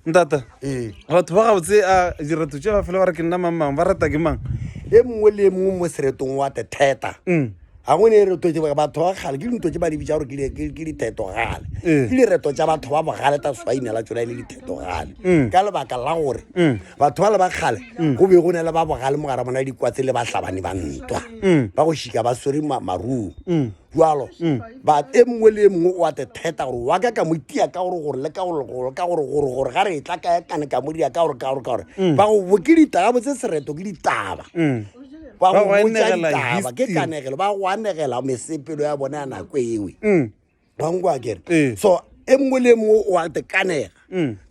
ntata ee batho ba gabotse a dirato tše ba fela ba re ke nna mang mang ba rata ke mang e mongwe le e mongwe mo seretong wa te theta Mm. ga go ne e reto tse ba- batho ba gale ke dinto tse ba di bitsa gore ke di- ke- ke dithetogale Ee. ke direto tsa batho ba bogale ta swaina la tsona e le dithetogale Mm. ka lebaka la gore Mm. batho ba le ba gale go be go ne le ba bogale mo gara bona dikwatse le bahlabani ba ntwa Mm. ba go šika ba swere ma- maruo Mm. jalo but e mongwe le e mongwe o ate theta gore wa ka ka mo tia ka gore gore le ka gore gore ka gore gore gore ga re e tla ka kane ka mo dia ka gore ka gore ka gore mm. ba go bo ke ditaba bo tse sereto ke ditaba mm. ba go botsa ditaba ke kanegelo ba go anegela mesepelo ya bone ya nako e nngwe mm. ba nkwa kere eh. so e mongwe le mongwe o ate kanega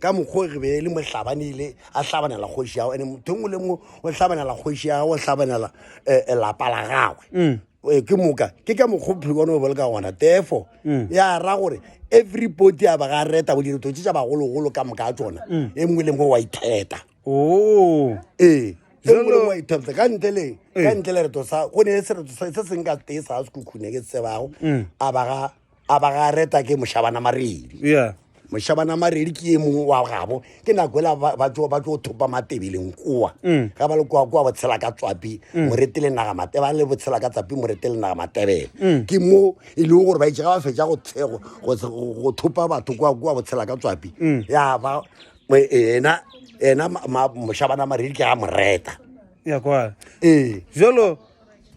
ka mokgwa re be le mohlabanele a hlabanela kgoši yago ande motho e mongwe le mongwe o hlabanela kgoši yago o hlabanela eh, eh, lapa la gagwe Eh, ke moka ke ka mokgophe bona o boloka gona therefore mm. ya ra gore every body a ba ga reta go dira totse tsa bagologolo ka moka a tsona mm. e nngwe le nngwe wa itheta oh. ee e nngwe le nngwe wa itheta ka ntle le ka ntle le reto sa go ne se reto se se nka tee sa se khukhune ke tsebago mm. a ba ga a ba ga reta ke mošabana maredi yeah mošabana maredi ke e mongwe wa gabo ke nako ela ba- ba tlo ba tlo thopa matebeleng koa Mm. ga ba le koa koa botshela ka tswapi moretele naga mate ba le botshela ka tsapi moretele naga matebele Mm. ke mo e leng gore ba itse ga ba fetsa go tshe- go- go- go go thopa batho koa koa botshela ka tswapi Mm. ya ba mo- ena ena ma- ma- mošabana maredi ke a moreta ya kwa ee jalo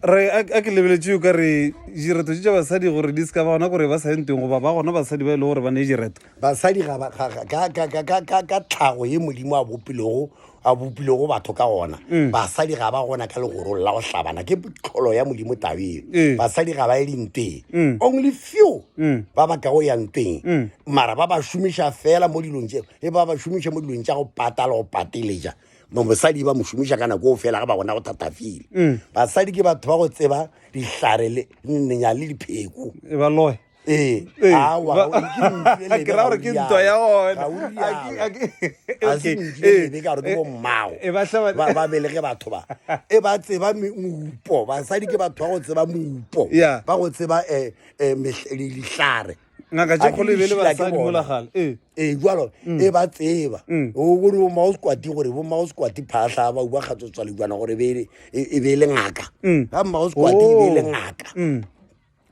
re a ke lebeletše yo ka re direto tše tša basadi gore di seka ba gona gore ba sa ye ntweng goba ba gona basadi ba e le gore ba ne direto basadi ka tlhago ye modimo a bopilego a bopilego batho ka gona mm. basadi ga ba gona ka legorong la go hlabana ke tlholo ya modimo tabeng eh. basadi ga ba ye dinteng mm. only few mm. ba ba kago ya nteng mara ba ba šomiša fela mo dilong tse e ba ba šomiša mo dilong tša go pata le go pateletša mosadi ba mo šomiša ka nako o fela ga ba gona go thatafile mm. basadi ke batho ba go tseba dihlare le nenya le dipheko e ba loe ee. Ee. ke ra gore ke ntwa ya oneaseebaa ee. belege batho ba e ba tseba moupo basadi ke batho ba go tseba moupo ba go tseba um dihlare ngaka tše kgolo e be le basadi mola gale ee ee jalo mm. e ba tseba mm. o gore bo mao squati gore bo mao squati phahla ba uba kgatso tswale jwana gore e, e be le ngaka mm. ga mao squati e be le oh. ngaka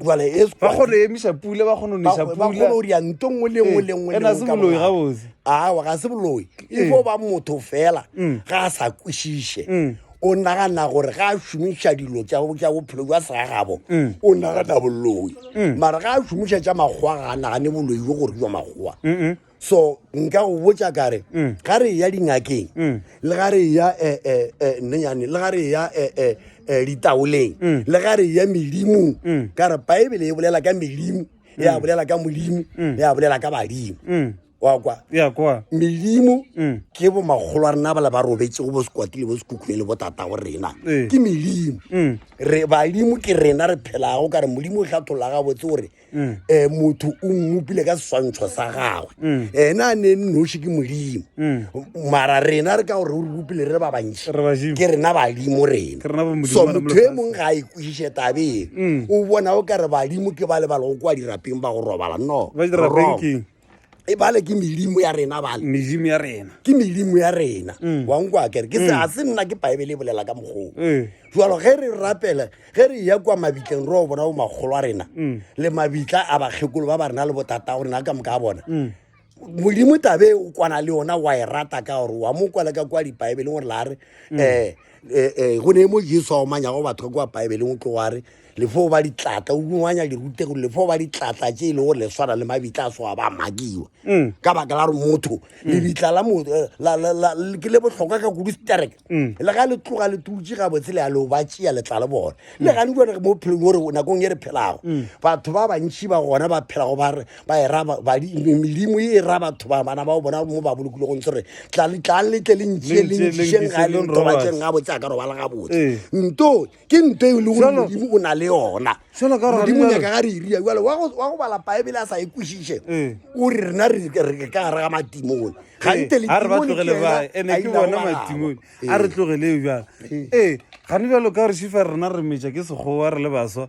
jale e ba kgone e emisa pule ba kgone o nisa pule ba kgone o ria nto nngwe le nngwe le nngwe e na se boloi ga botse a wa ga se boloi e fo ba motho fela ga sa kwishishe o nagana gore ga a šomiša dilo tša bophelo jwa segagabo mm. o nagana boloi mm. mara ga a šomiša tša makgowa ga a nagane boloi jo gore jwa makgowa so nka go botsa kare mm. ga re ya dingakeng mm. le ga re ya eh, eh, eh, nnenyane le ga re ya ditaoleng mm. le ga re ya medimong ka re baebele e bolela ka medimo ya bolela ka modimo ya bolela ka badimo wa kwa ya kwa melimo mm. ke bo makgolo a rena bala ba robetse go bo sekwati le bo sekhukhune le botata go rena eh. ke melimo mm. re badimo ke rena re phelago ka re modimo o tlhathola gabotse gore um motho o mmopile ka seswantšho sa gagwe um ena a ne nnoši ke modimo mara rena re ka gore o re bopile re ba bantši ke rena badimo rena so motho e mongwe ga a ikwešiše tabeng o bona o ka re badimo ke ba lebala go kwa dirapeng ba go robala no e bale ke medimo ya rena bale medimo ya rena ke medimo ya rena mm. wa nkwa kere ke se mm. a se nna ke baebele e bolela ka mokgong eh. jalo ge re rapela ge re ya kwa mabitleng re o bona bo makgolo a rena mm. le mabitla a bakgekolo ba ba rena le botata go rena ka moka a bona modimo tabe o kwana le yona wa e rata ka gore wa mo kwala ka kwa dibaebeleng gore la re um eh, eh, go ne mo jesu a omanyago batho ka kwa baebeleng o tlo wa re Le fo ba ditlatla, o runganya dirutego, le fo ba ditlatla tše e lego le swana le mabitla a soa ba makiwa. Mm. Ka baka la gore motho, mm. lebitla la motho, eh, la, la, la, ke le bohlokwa ka kudu sterek. Mm. Le ga le tloga le tutše ga botse le a lo ba tšea le tla le bone. Mm. Le ga ni bone mo phelong gore nakong e re phelago. Mm. Batho ba bantši ba gona ba phelago ba re ba e ra ba di melimo e ra batho ba bana ba bona mo ba bolokile go ntse re tla le tla le tle le ntšie le ntšie ga le ntobatseng ga botse a ka robala ga botse. Eh. Ntoo ke nto e le gore modimo o na le yona modimo nyaka ga re iria e jale wa go bala baebele a sa e kwešiše ee. o re rena re ka gare ga matimone gante ee. leane ke bona matimone a re ee. tlogeleo jale ee gane jalo ka gore šifa rena re metša ke sekgowa re le baswa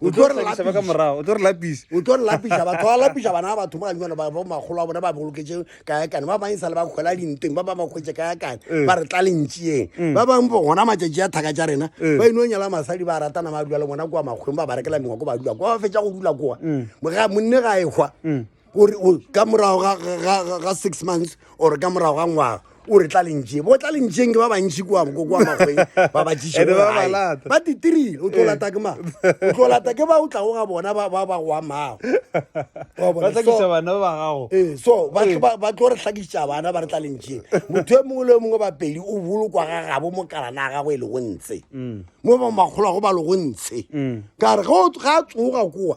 o tlo re lapisa ba ka morago o tlo re lapisa o tlo re lapisa batho ba lapisa bana ba batho ba nyana ba bo magolo a bona ba boloketse ka ya kana ba ba insala ba khwela dinteng ba ba ba khwetse ka ya kana eh. ba re tla lentsieng mm. ba bang bo gona matšatši ya thaka tša rena eh. ba ino nyala masadi ba ratana ba dula le bona kwa makgweng ba ba rekela mengwa ko ba dula kwa ba fetsa go dula kwa mm. ga monne ga e hwa mm. o re o ka morago ga- ga- ga ga- ga six months or ka morago ga ngwaga o re tla lentšeng bo tla lentšeng ke ba bantši kua ko kwa magweng ba ba tšiše Ene gore ba ba gae. lata. ba titirile o tlo lata ke mang o tlo lata ke ba o tlago ga bona ba ba ba go amago Wa bona? ba tla So- kisa bana ba gago ee so ba tlo- ba- ba tlo re hlakiša bana ba re tla lentšeng motho e mongwe le yo mongwe bapedi o bolokwa ga gabo mo kalana ya gagwe e lego ntshe mo ba makgolo a go ba lego ntshe ka re ge o- ga a tsoga kowa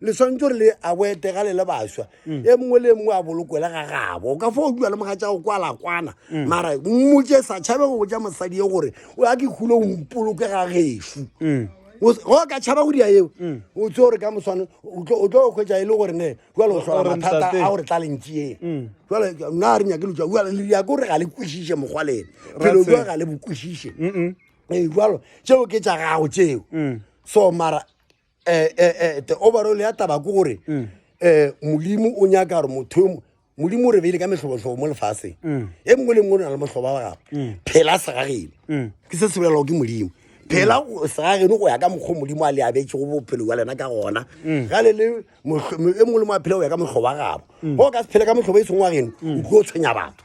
le swantse gore le awete ga le le baswa mm. e mongwe le mongwe a bolokwele ga gabo ka fo o dula le moga tsa go kwala kwana mm. mara mmotse sa tšhabe go botsa mosadi ye gore o ya ke kgolo o mpoloke ga gefu mm. go ka tšhaba go dia eo o tse gore ka moswane o tlo go kgwetsa e le gore ne jale o sola mathata a gore tla lentsee jale nna a re nyake letswa jale le ya ke gore ga le kwešiše mokgwa lene phelo jwa ga le bokwešiše ee jalo tseo ke tša gago tseo so mara eh, eh, eh, the overall ya taba ko gore um modimo o nyaka gore motho yo mo- modimo o re beile ka metlhobotlhobo mo lefaseng e mongwe le mongwe o na le motlhoba wa gago phela segageno ke se se bolelago ke modimo phela o- segageno go ya ka mokgwa o modimo a le abetse go bophelo wa lena ka gona ga le le motlho- mo- e mongwe le mongwe a phela go ya ka motlhobo wa gabo go ka se phele ka motlhobo e seng wa geno o tlo tshwenya batho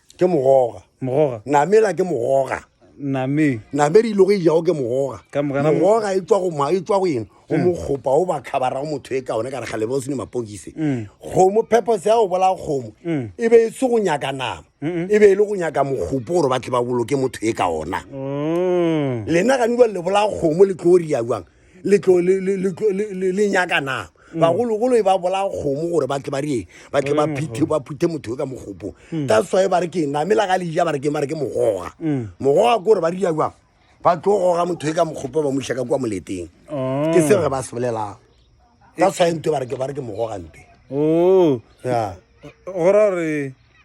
ke mogoga mogoga namela ke mogoga name name di logo ijago ke mogoga Ka moka na- mogoga e tswa go ma e tswa go eng go mokgopa o ba khabara go motho e ka one ka re galebe o sene mapokise kgomo purpose ya go bolaya kgomo e be e se go nyaka nama e be e le go nyaka mokgopo gore ba tle ba boloke motho e ka ona Oh. lena gane jwa le bolaya kgomo le tlo ria jwang le tlo le le le tlo- le- le- le nyaka nama bagologolo e ba bolaya kgomo gore ba tle ba reng ba tle ba phithe ba phuthe motho yo ka mogopo that's why ba re ke name la ga le ja ba re ke ba re ke mogoga mogoga ke gore ba ria jwang ba tlo goga motho yo ka mogopo ba moša ka kwa moleteng Oh. ke seo re ba se bolelago that's why nto ba re ke ba re ke mogoga mpe o ya go ra gore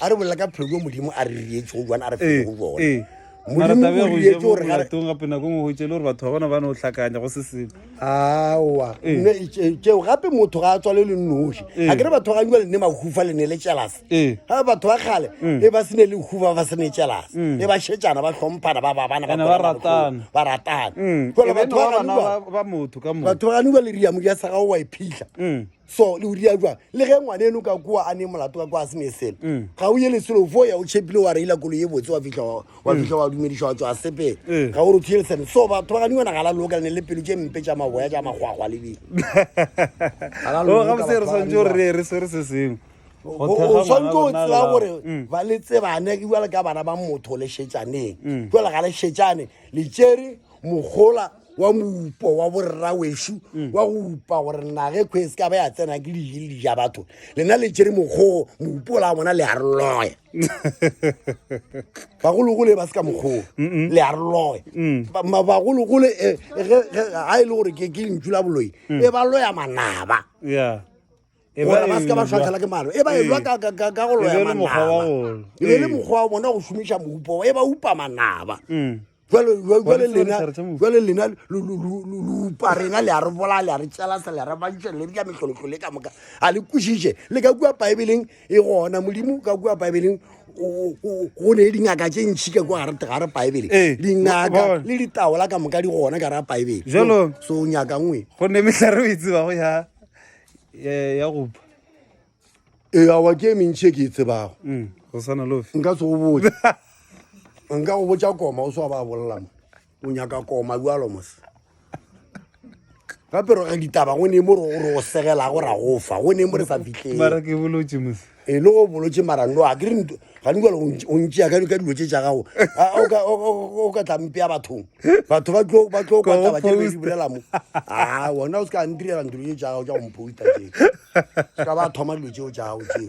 a re bolela ka pheko modimo a re rietse go jwana a re fete go jona ee. mara tabe go je mo molatong gape nako ngwe go tšele gore batho ba bona ba ne o tlhakanya go se selo aowa tšeo gape motho ga a tswale le noši a kere batho ga jale ne mahufa le ne le tšelase ga batho ba kgale e ba sene le hufa ba sene tšelase e ba šetšana ba tlhomphana ba babana ba ratana ba ratana jale batho ba ganuba batho ba ganuba le riamodi ya sa gago wa e phitlha so le uria jwang le ge ngwane eno ka kua a ne molato ka kua a sene selo mm. ga o ye leselo fo ya o chepile wa reila kolo ye botse wa fitlha wa mm. fitlha wa dumediša wa tswa sepele mm. ga o re thuyele sene so batho ba gane yona ga la loka le ne le pelo tše mpe tša maboya tša magwagwa le di oh, gabotse re swantse gore re re swere se sengwe o swantse o tsela gore ba le tsebane ke jale ka bana ba motho le šetšaneng jale ga le šetšane le tšere mogola wa moupo wa borrawešu mm. wa go upa gore nage kgwe se ka ba ya tsena ke dije le dija batho lena le tšere mokgogo moupo la bona le arloe bagologole ba se ka mokgogo le arloe mm. bagologole eh, eh, ga e le gore ke lentšu la boloi mm. e ba loya manaba e gore ba se ka ba tshwatlhela ke malo e ba elwa ka go loya manaba e be le mokgwa wa bona go šomiša moupo e ba upa manaba jale lena jale lena lupa rena le a re bola le a re tšelasa le a re bantšha le dila mehlolohlolo e ka moka a le kwešiše le ka kua baebeleng e gona modimo ka kua baebeleng go ne dingaka tše ntšhi ka kua ga re baebele ee, dingaka le ditaola ka moka di gona ka ra baebele so nyaka nngwe go ne metlha re o e tsebago ya ya gopa ee awa ke e mentšhi e ke e tsebago mm, go swana le ofe nka se go botse nka go botsa koma o swa ba bolela mo o nyaka koma bjalo mose gape re ditaba go ne mo re o segela go ra go fa go ne mo re sa fitlheng mara ke bolotse mose e le go bolotse mara no a ke re ga nkwale o ntšea ka dilo tse tsa gago o ka tla mpea bathong batho ba tlo ba tlo kwa taba tse di bolela mo ah wona o ska ndirela ndiro tsa gago tsa go mposta tse ska ba thoma dilo tseo tsa gago tse